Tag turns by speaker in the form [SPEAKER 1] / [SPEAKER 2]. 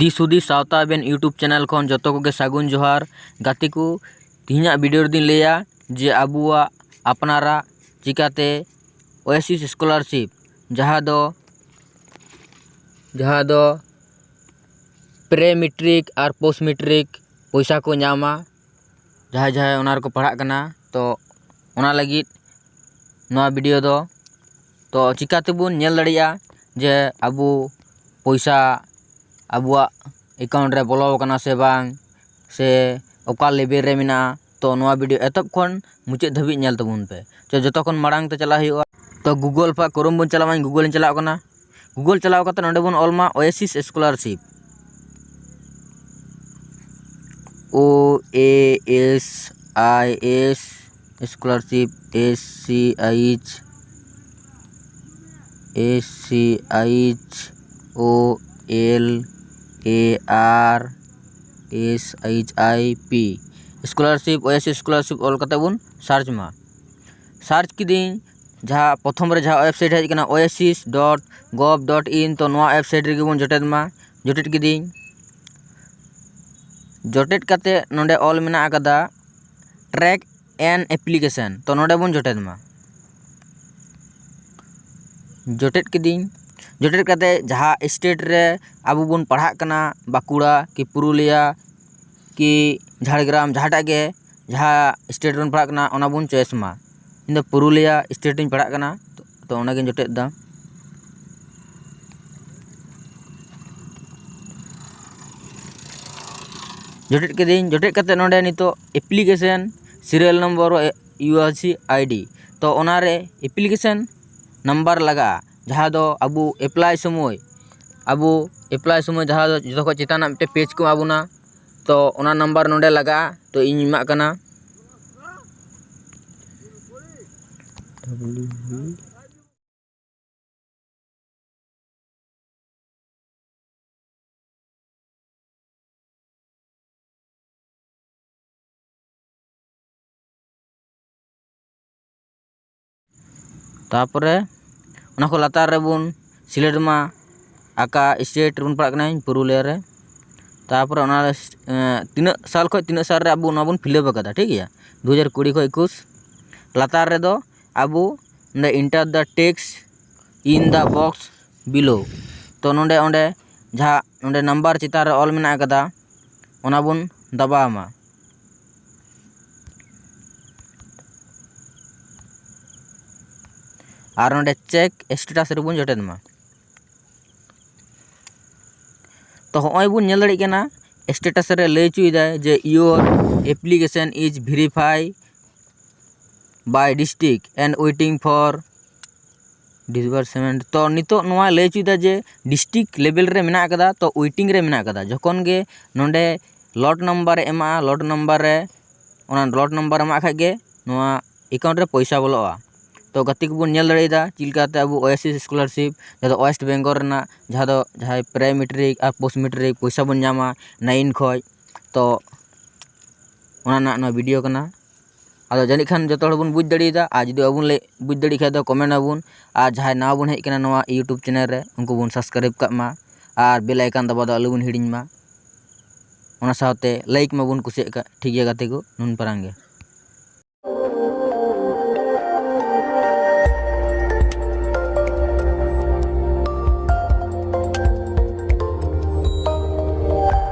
[SPEAKER 1] ᱫᱤᱥᱩᱫᱤ ᱥᱟᱶᱛᱟ ᱟᱵᱮᱱ YouTube channel ᱠᱷᱚᱱ ᱡᱚᱛᱚ ᱠᱚᱜᱮ ᱥᱟᱹᱜᱩᱱ ᱡᱚᱦᱟᱨ ᱜᱟᱛᱮ ᱠᱚ ᱛᱮᱦᱮᱧᱟᱜ ᱵᱷᱤᱰᱤᱭᱳ ᱨᱮᱫᱚᱧ ᱞᱟᱹᱭᱟ ᱡᱮ ᱟᱵᱚᱣᱟᱜ ᱟᱯᱱᱟᱨᱟᱜ ᱪᱤᱠᱟᱹᱛᱮ ᱳᱭᱮᱥᱤᱥ ᱥᱠᱚᱞᱟᱨᱥᱤᱯ ᱡᱟᱦᱟᱸ ᱫᱚ ᱡᱟᱦᱟᱸ ᱫᱚ ᱯᱨᱮ ᱢᱮᱴᱨᱤᱠ ᱟᱨ ᱯᱳᱥᱴ ᱢᱮᱴᱨᱤᱠ ᱯᱚᱭᱥᱟ ᱠᱚ ᱧᱟᱢᱟ ᱡᱟᱦᱟᱸᱭ ᱡᱟᱦᱟᱸᱭ ᱚᱱᱟ ᱨᱮᱠᱚ ᱯᱟᱲᱦᱟᱜ ᱠᱟᱱᱟ ᱛᱚ ᱚᱱᱟ ᱞᱟᱹᱜᱤᱫ ᱱᱚᱣᱟ ᱵᱷᱤᱰᱭᱳ ᱫᱚ ᱛᱚ ᱪᱤᱠᱟᱹ ᱛᱮᱵᱚᱱ ᱧᱮᱞ ᱫᱟᱲᱮᱭᱟᱜᱼᱟ ᱡᱮ ᱟᱵᱚ ᱯᱚᱭᱥᱟ ᱟᱵᱚᱣᱟᱜ ᱮᱠᱟᱣᱩᱱᱴ ᱨᱮ ᱵᱚᱞᱚ ᱠᱟᱱᱟ ᱥᱮ ᱵᱟᱝ ᱥᱮ ᱚᱠᱟ ᱞᱮᱵᱮᱞ ᱨᱮ ᱢᱮᱱᱟᱜᱼᱟ ᱛᱚ ᱱᱚᱣᱟ ᱵᱷᱤᱰᱤᱭᱳ ᱮᱛᱚᱦᱚᱵ ᱠᱷᱚᱱ ᱢᱩᱪᱟᱹᱫ ᱫᱷᱟᱹᱵᱤᱡ ᱧᱮᱞ ᱛᱟᱵᱚᱱ ᱯᱮ ᱛᱚ ᱡᱚᱛᱚ ᱠᱷᱚᱱ ᱢᱟᱲᱟᱝ ᱛᱮ ᱪᱟᱞᱟᱜ ᱦᱩᱭᱩᱜᱼᱟ ᱛᱚ ᱜᱩᱜᱚᱞ ᱯᱷᱟ ᱠᱨᱳᱢ ᱵᱚᱱ ᱪᱟᱞᱟᱜᱼᱟ ᱤᱧ ᱜᱩᱜᱚᱞᱤᱧ ᱪᱟᱞᱟᱣ ᱠᱟᱱᱟ ᱜᱩᱜᱚᱞ ᱪᱟᱞᱟᱣ ᱠᱟᱛᱮ ᱱᱚᱸᱰᱮ ᱵᱚᱱ ᱚᱞ ᱢᱟ OASIS scholarship O A S I S scholarship S C H S C H O L A R S H I P scholarship OASIS scholarship ᱚᱞ ᱠᱟᱛᱮᱫ ᱵᱚᱱ ᱥᱟᱨᱪ ᱢᱟ ᱥᱟᱨᱪ ᱠᱤᱫᱟᱹᱧ ᱡᱟᱦᱟᱸ ᱯᱨᱚᱛᱷᱚᱢ ᱨᱮ ᱡᱟᱦᱟᱸ ᱳᱭᱮᱵᱽᱥᱟᱭᱤᱴ ᱦᱮᱡ ᱠᱟᱱᱟ oasis dot gov dot in ᱛᱳ ᱱᱚᱣᱟ ᱳᱭᱮᱵᱽᱥᱟᱭᱤᱴ ᱨᱮᱜᱮ ᱵᱚᱱ ᱡᱚᱴᱮᱫ ᱢᱟ ᱡᱚᱴᱮᱫ ᱠᱤᱫᱟᱹᱧ ᱡᱚᱴᱮᱫ ᱠᱟᱛᱮᱫ ᱱᱚᱰᱮ ᱚᱞ ᱢᱮᱱᱟᱜ ᱠᱟᱫᱟ ᱴᱨᱮᱠ ᱮᱱ ᱮᱯᱞᱤᱠᱮᱥᱚᱱ ᱛᱚ ᱱᱚᱰᱮ ᱵᱚᱱ ᱡᱚᱴᱮᱫ ᱢᱟ ᱡᱚᱴᱮᱫ ᱠᱤᱫᱟᱹᱧ ᱡᱚᱴᱮᱫ ᱠᱟᱛᱮ ᱡᱟᱦᱟᱸ ᱥᱴᱮᱴ ᱨᱮ ᱟᱵᱚ ᱵᱚᱱ ᱯᱟᱲᱦᱟᱜ ᱠᱟᱱᱟ ᱵᱟᱸᱠᱩᱲᱟ ᱠᱤ ᱯᱩᱨᱩᱞᱤᱭᱟ ᱠᱤ ᱡᱷᱟᱲᱜᱨᱟᱢ ᱡᱟᱦᱟᱸᱴᱟᱜ ᱜᱮ ᱡᱟᱦᱟᱸ ᱥᱴᱮᱴ ᱨᱮᱵᱚᱱ ᱯᱟᱲᱦᱟᱜ ᱠᱟᱱᱟ ᱚᱱᱟ ᱵᱚᱱ ᱪᱚᱭᱮᱥ ᱢᱟ ᱤᱧ ᱫᱚ ᱯᱩᱨᱩᱞᱤᱭᱟ ᱥᱴᱮᱴ ᱨᱤᱧ ᱯᱟᱲᱦᱟᱜ ᱠᱟᱱᱟ ᱛᱚ ᱚᱱᱟᱜᱤᱧ ᱡᱚᱴᱮᱫ ᱮᱫᱟ ᱡᱚᱴᱮᱫ ᱠᱤᱫᱟᱹᱧ ᱡᱚᱴᱮᱫ ᱠᱟᱛᱮᱫ ᱱᱚᱸᱰᱮ ᱱᱤᱛᱚᱜ application serial number U R C ID ᱛᱚ ᱚᱱᱟᱨᱮ ᱮᱯᱞᱤᱠᱮᱥᱮᱱ ᱱᱟᱢᱵᱟᱨ ᱞᱟᱜᱟᱜᱼᱟ ᱡᱟᱦᱟᱸ ᱫᱚ ᱟᱵᱚ ᱮᱯᱞᱟᱭ ᱥᱚᱢᱚᱭ ᱟᱵᱚ ᱮᱯᱞᱟᱭ ᱥᱚᱢᱚᱭ ᱡᱟᱦᱟᱸ ᱫᱚ ᱡᱚᱛᱚ ᱠᱷᱚᱱ ᱪᱮᱛᱟᱱ ᱨᱮᱱᱟᱜ ᱢᱤᱫᱴᱮᱱ ᱯᱮᱡᱽ ᱠᱚ ᱮᱢᱟ ᱵᱚᱱᱟ ᱛᱚ ᱚᱱᱟ ᱱᱟᱢᱵᱟᱨ ᱱᱚᱰᱮ ᱞᱟᱜᱟᱜᱼᱟ ᱛᱚ ᱤᱧ ᱮᱢᱟᱜ ᱠᱟᱱᱟ ᱛᱟᱨᱯᱚᱨᱮ ᱚᱱᱟ ᱠᱷᱚᱱ ᱞᱟᱛᱟᱨ ᱨᱮᱵᱚᱱ ᱥᱤᱞᱮᱠᱴ ᱢᱟ ᱚᱠᱟ ᱥᱴᱮᱴ ᱨᱮᱵᱚᱱ ᱯᱟᱲᱟᱜ ᱠᱟᱱᱟ ᱤᱧ ᱯᱩᱨᱩᱞᱤᱭᱟᱹ ᱨᱮ ᱛᱟᱨᱯᱚᱨᱮ ᱚᱱᱟ ᱛᱤᱱᱟᱹᱜ ᱥᱟᱞ ᱠᱷᱚᱱ ᱛᱤᱱᱟᱹᱜ ᱥᱟᱞ ᱨᱮ ᱟᱵᱚ ᱚᱱᱟ ᱵᱚᱱ ᱯᱷᱤᱞᱟᱯ ᱠᱟᱫᱟ ᱴᱷᱤᱠ ᱜᱮᱭᱟ ᱫᱩ ᱦᱟᱡᱟᱨ ᱠᱩᱲᱤ ᱠᱷᱚᱱ ᱮᱠᱩᱥ ᱞᱟᱛᱟᱨ ᱨᱮᱫᱚ ᱟᱵᱚ ᱚᱸᱰᱮ enter the text in the box below ᱛᱳ ᱱᱚᱰᱮ ᱚᱸᱰᱮ ᱡᱟᱦᱟᱸ ᱱᱚᱰᱮ ᱱᱟᱢᱵᱟᱨ ᱪᱮᱛᱟᱱ ᱨᱮ ᱚᱞ ᱢᱮᱱᱟᱜ ᱠᱟᱫᱟ ᱚᱱᱟ ᱵᱚᱱ ᱫᱟᱵᱟᱣ ᱢᱟ ᱟᱨ ᱱᱚᱸᱰᱮ ᱪᱮᱠ ᱥᱴᱮᱴᱟᱥ ᱨᱮᱵᱚᱱ ᱡᱚᱴᱮᱫ ᱢᱟ ᱛᱚ ᱦᱚᱸᱜᱼᱚᱭ ᱵᱚᱱ ᱧᱮᱞ ᱫᱟᱲᱮᱭᱟᱜ ᱠᱟᱱᱟ ᱥᱴᱮᱴᱟᱥ ᱨᱮ ᱞᱟᱹᱭ ᱦᱚᱪᱚᱭᱮᱫᱟᱭ ᱡᱮ your application is verify by district and waiting for disbursement ᱛᱚ ᱱᱤᱛᱚᱜ ᱱᱚᱣᱟ ᱞᱟᱹᱭ ᱦᱚᱪᱚᱭᱮᱫᱟ ᱡᱮ ᱰᱤᱥᱴᱤᱠ ᱞᱮᱵᱮᱞ ᱨᱮ ᱢᱮᱱᱟᱜ ᱠᱟᱫᱟ ᱛᱚ ᱳᱭᱮᱴᱤᱝ ᱨᱮ ᱢᱮᱱᱟᱜ ᱠᱟᱫᱟ ᱡᱚᱠᱷᱚᱱ ᱜᱮ ᱱᱚᱰᱮ ᱞᱚᱴ ᱱᱟᱢᱵᱟᱨᱮ ᱮᱢᱟᱜᱼᱟ ᱞᱚᱴ ᱱᱟᱢᱵᱟᱨ ᱨᱮ ᱚᱱᱟ ᱞᱚᱴ ᱱᱟᱢᱵᱟᱨ ᱮᱢᱟᱜ ᱠᱷᱟᱡ ᱜᱮ ᱱᱚᱣᱟ ᱮᱠᱟᱣᱩᱱᱴ ᱨᱮ ᱯᱚᱭᱥᱟ ᱵᱚᱞᱚᱜᱼᱟ ᱛᱚ ᱜᱟᱛᱮ ᱠᱚᱵᱚᱱ ᱧᱮᱞ ᱫᱟᱲᱮᱭᱟᱫᱟ ᱪᱮᱫ ᱞᱮᱠᱟᱛᱮ ᱟᱵᱚ ᱳᱭᱮᱥᱤᱥ ᱥᱠᱚᱞᱟᱨᱥᱤᱯ ᱡᱟᱦᱟᱸ ᱫᱚ ᱳᱭᱮᱥᱴ ᱵᱮᱝᱜᱚᱞ ᱨᱮᱱᱟᱜ ᱡᱟᱦᱟᱸ ᱫᱚ ᱡᱟᱦᱟᱸᱭ ᱯᱨᱮ ᱢᱮᱴᱨᱤᱠ ᱟᱨ ᱯᱳᱥᱴ ᱢᱮᱴᱨᱤᱠ ᱯᱚᱭᱥᱟ ᱵᱚᱱ ᱧᱟᱢᱟ ᱱᱟᱭᱤᱱ ᱠᱷᱚᱡ ᱛᱚ ᱚᱱᱟ ᱨᱮᱱᱟᱜ ᱱᱚᱣᱟ ᱵᱷᱤᱰᱤᱭᱳ ᱠᱟᱱᱟ ᱟᱫᱚ ᱡᱟᱹᱱᱤᱡ ᱠᱷᱟᱱ ᱡᱚᱛᱚ ᱦᱚᱲ ᱵᱚᱱ ᱵᱩᱡᱽ ᱫᱟᱲᱮᱭᱟᱫᱟ ᱟᱨ ᱡᱩᱫᱤ ᱵᱟᱵᱚᱱ ᱞᱟᱹᱭ ᱵᱩᱡᱽ ᱫᱟᱲᱮᱜ ᱠᱷᱟᱱ ᱫᱚ ᱠᱚᱢᱮᱱᱴ ᱟᱵᱚᱱ ᱟᱨ ᱡᱟᱦᱟᱸᱭ ᱱᱟᱣᱟ ᱵᱚᱱ ᱦᱮᱡ ᱠᱟᱱᱟ ᱱᱚᱣᱟ ᱤᱭᱩᱴᱩᱵᱽ ᱪᱮᱱᱮᱞ ᱨᱮ ᱩᱱᱠᱩ ᱵᱚᱱ ᱥᱟᱵᱥᱠᱨᱟᱭᱤᱵᱽ ᱠᱟᱜ ᱢᱟ ᱟᱨ ᱵᱮᱞ ᱟᱭᱠᱚᱱ ᱫᱟᱵᱟᱣ ᱫᱚ ᱟᱞᱚ ᱵᱚᱱ ᱦᱤᱲᱤᱧ ᱢᱟ ᱚᱱᱟ ᱥᱟᱶᱛᱮ ᱞᱟᱭᱤᱠ ᱢᱟᱵᱚᱱ ᱠᱩᱥᱤᱭᱟᱜ ᱠᱟᱱ ᱴᱷᱤᱠ ᱜᱮᱭᱟ ᱜᱟᱛᱮ ᱠᱚ ᱱᱩᱱ ᱯᱟᱨᱟᱝ ᱜᱮ